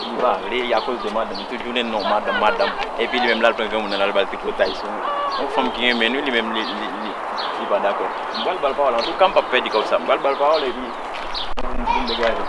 Li pa vle li akoz de madanm tout jounen non madanm madanm epi li menm lal pran granmoun nan lal bal tripotay sou yon fanm ki renmenn wi li menm li pa dakò m pral bal pawòl antouka m pap pèdi kòb sa m pral bal pawòl epi poum degaje m.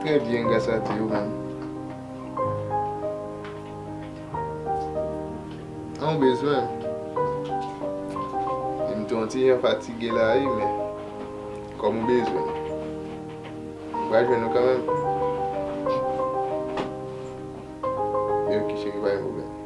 Trè byen gras a Dye ou menm. An ou bezwen? E m te yon ti jan fatige la wi men kòm ou bezwen ou pral jwenn nou kanmenm. Oke cheri pa gen pwoblèm.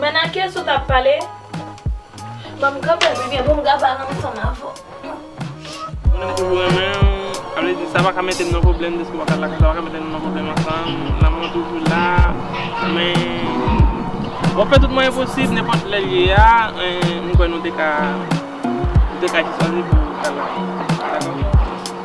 Men nan kes ou tap pale. Banm kanpe pi byen poum ka pale ansanm avè w. Moun renmen toujou renmen w. Sa vle di sa pa ka mete n nan pwoblèm deske w pa ka la sa pa ka mete nou nan pwoblèm ansanm. Lanmou an toujou la. Men wap fè tout mwayen posib nenpòt lè l ye a m kwè nou te ka nou te ka jis anvi pou w ta la. Dakò?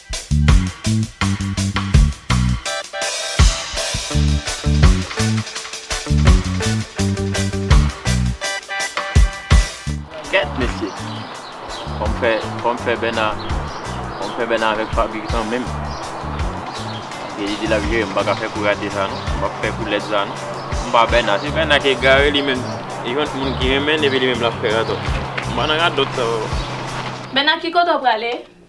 Kèt mesye fòm fè fòm fè bèna fòm fè bèna avèk faby kanmenm paske li di lap jerem m paka fè kou rate sa non m pap fè kou lèd sa non m pa bèna se bèna ki egare li menm li jwenn moun ki renmenn epi li menm lap fè radòt m pa nan radòt sa papa. Bèna ki kote w prale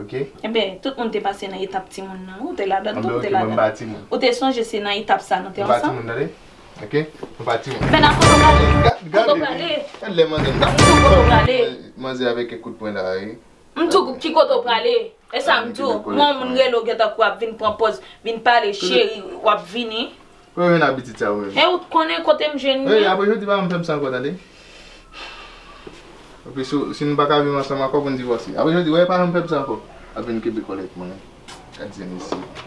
ok. Enben, tout moun te pase nan etap timoun nan. Ou te ladan l tou, ou te ladan l. Anben, ok, mwen pa timoun. Ou te sonje se nan etap sa a nou te ansanm? Mwen pa timoun tande, ok. Mwen pa timoun. Enben, nan kote w prale? Kote w prale? Gade lè manzè nan. M di w kote w prale. Manzè avèk kèk kout pwen la e. M di w ki kote w prale. E sa m di w, mwen w moun rele w gen tan kou w ap vin pran pòz, vin pale cheri, w ap vini. Kote ou jwenn abitid sa ou menm? E ou t konnen kote m jwenn li? Ey apre jodi pa fèm sa ankò tande. Epi si nou paka viv ansanm ankò pou n divòse. Apre jodi wè pa janm fèm sa ankò. Ap vin kenbe kòl avèk mwen. Gad zen mesye.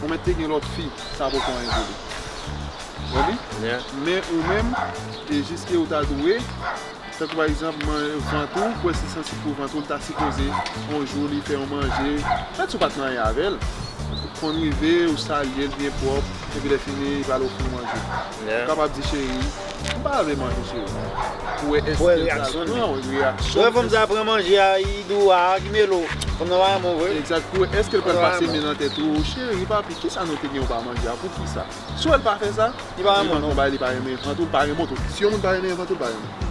Ou mèt te gen lòt fi sa poko anyen pou li wè li men ou menm e jiske ou ta dwe tankou pa egzanp man vant ou kwè se sansib pou vant ou li ta sipoze on jou li fè yon manje mèt si ou pat marye avèl konn rive ou salyel byen pwòp epi lè fini li pral ofri ou manje. Ou kapab di cheri, m pa vle manje cheri. Pou wè èske l pral pran yon reyaksyon. Wè fanm sa pran manje a yi dou a ki melo. Fanm nan pa renmen w vre. Egzat, pou wè èske l pral pase men nan tèt ou, cheri, papi, kisa nou te gen w pa manje a, poukisa? Si w wè l pa fè sa, li pap pran bagay li pa renmen, vant ou l pa renmen w tou. Si yon moun pa renmen vant ou l pa renmen.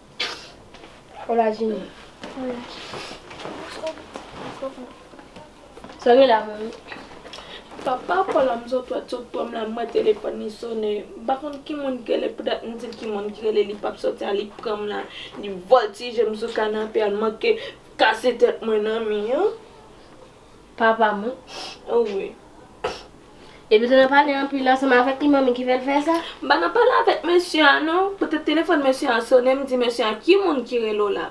Hola Jimmy. Hola. Sa gen la menm? Papa Paul a m sot wè sot pranm la mwen telefòn li sone m pa konn ki moun ki rele poutet m dil ki moun ki rele li pap soti a li pranm la li vòltije m sou kanape a l manke kase tèt mwen nan mi an. Papa mwen anmweyy. Depi se nan pale anpil la se m avèk li manmi ki fè l fè sa. M pa nan pale avèk mesye a non, petèt telefòn mesye a sone m di mesye a ki moun ki rele w la.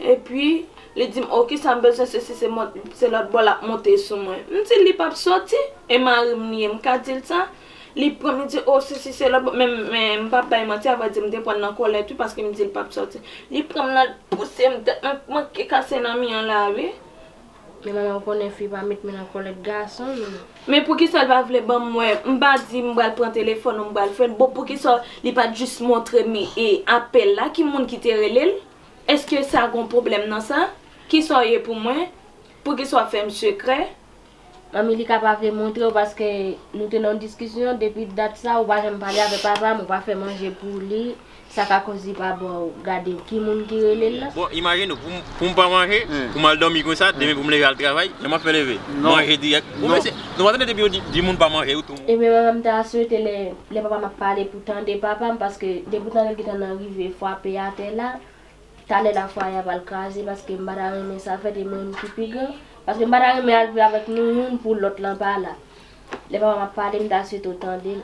Epi li di m oh kisa m bezwen sesi se mòd se lòt bò l ap monte sou mwen. M di l li p ap sòti e mari m li ye m ka di l sa. Li pran li di oh sesi se lòt men m p ap bay manti a vrè di m te pran l nan kòlèt wi paske m di l p ap sòti. Li pran m nan l pouse m tèt mwen manke kase nan mi an la wi. Men manmanw konnen fi pa met men nan kòlèt gason non. Men poukisa l pa vle banm mwen m pa di m pral pran telefòn ou m pral fèl bon poukisa li pat jis montre m e apèl la ki moun ki te rele l eske sa gon pwoblèm nan sa kisa w ye pou mwen poukisa wap fè m sekrè. Manmi li ka pa vle montrew paske nou te nan diskisyon depi dat sa ou pa janm pale avè papam ou pa fè manje pou li Sa ka koz li pa baw gade ki moun ki relel la. Bon imajine w poum pa manje poum al domi konsa demen poum leve al travay jan map fè leve manje dirèk ou mesye nou pa tande depi yo di moun pa manje ou tou. Ebyen mwen menm ta swete lè papam ap pale pou tande papam paske depi ou tande l gentan nan rive fwape atè la talè la fwaye a pral kraze paske m pa ta renmen sa fèt e mwen menm ki pi gran paske m pa ta renmen al viv avèk nou youn pou lòt lan pa la lè papam ap pale m ta swete w tande l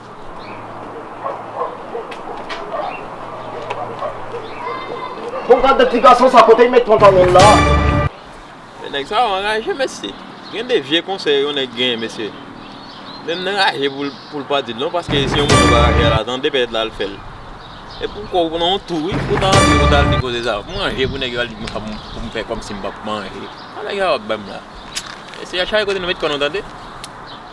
Bon gad de ti gason sa kote li met pantalonl la. Men nèg sa yo anraje mesye. Gen de vye konsèy yon nèg genyen mesye. Menm nan raje poul pa dil non paske si yon moun pa raje al atande pètèt lal fèl. Epi ou kwè ou nan yon tou wi ou ta antre pou tal di koze sa. Manje pou nèg yo al di mwen poum fè kòmsi m pap manje. Sa nèg sa yo ap banm la. Mesye chak kote nou met kò nou tande.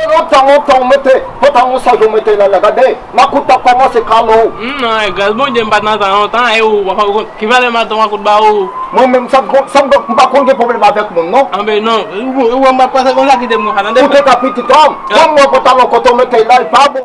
Se lontan lontan ou mete pantalon ou sa je ou mete lala gade makout ap komanse kale ou. Humm nan e gras bondye m pat nan tan lontan e ou wap konn ki valè maton makout ba ou. Mwen menm sa m konn sa m konn m pa konn gen pwoblèm avèk moun non. Anben non ou wè m pap pase konsa kite m konsa tande. Ou te ka pitit homme. Humm bon pantalon kote ou mete la li pa bon.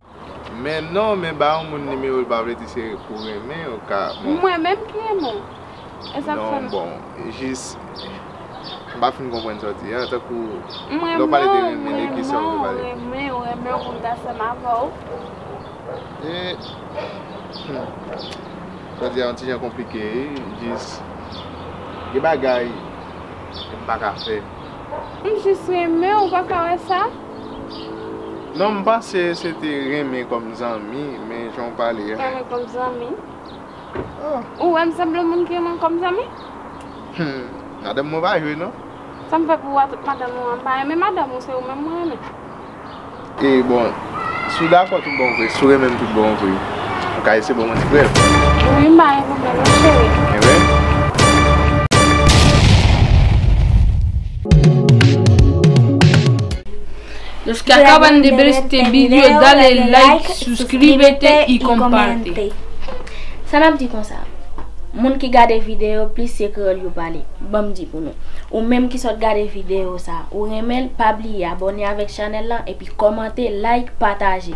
Men non men ba yon moun nimewo l pa vle di se pou renmen yo ka bon. Mwen menm ki renmen w e sak fè m. Non bon jis m pa fin konprann sa w di a tankou lè w pale de renmen de kisa w vle pale. Mwen renmen w renmen w pou m ta ansanm avè w. Humm sa w di a yon ti jan konplike wi jis gen bagay m pa ka fè. M jis renmen w ou pa ka wè sa. Non m panse se te renmen kòm zanmi men jan w pale a. Renmen kòm zanmi? Ou wè m sanble moun ki renmen kòm zanmi? Humm madanm mwen pa jwe non. Sa m fè pou ou atout madanm ou an? M pa renmen madanm ou se ou menm mwen renmen. E bon si w dakò tout bon vre, si w renmen m tout bon vre. Ou ka ese bon mwen ti prel. Wi m ba e nou men non cheri. Los que acaban de ver este video dale like, suscríbete y comparte. Sa nap di konsa? Moun ki gade video plis se kreyòl yo pale. Banm di pou nou. Ou menm ki sot gade video sa, ou renmenl pa bliye abone avèk chanèl lan epi kòmante, like, pataje.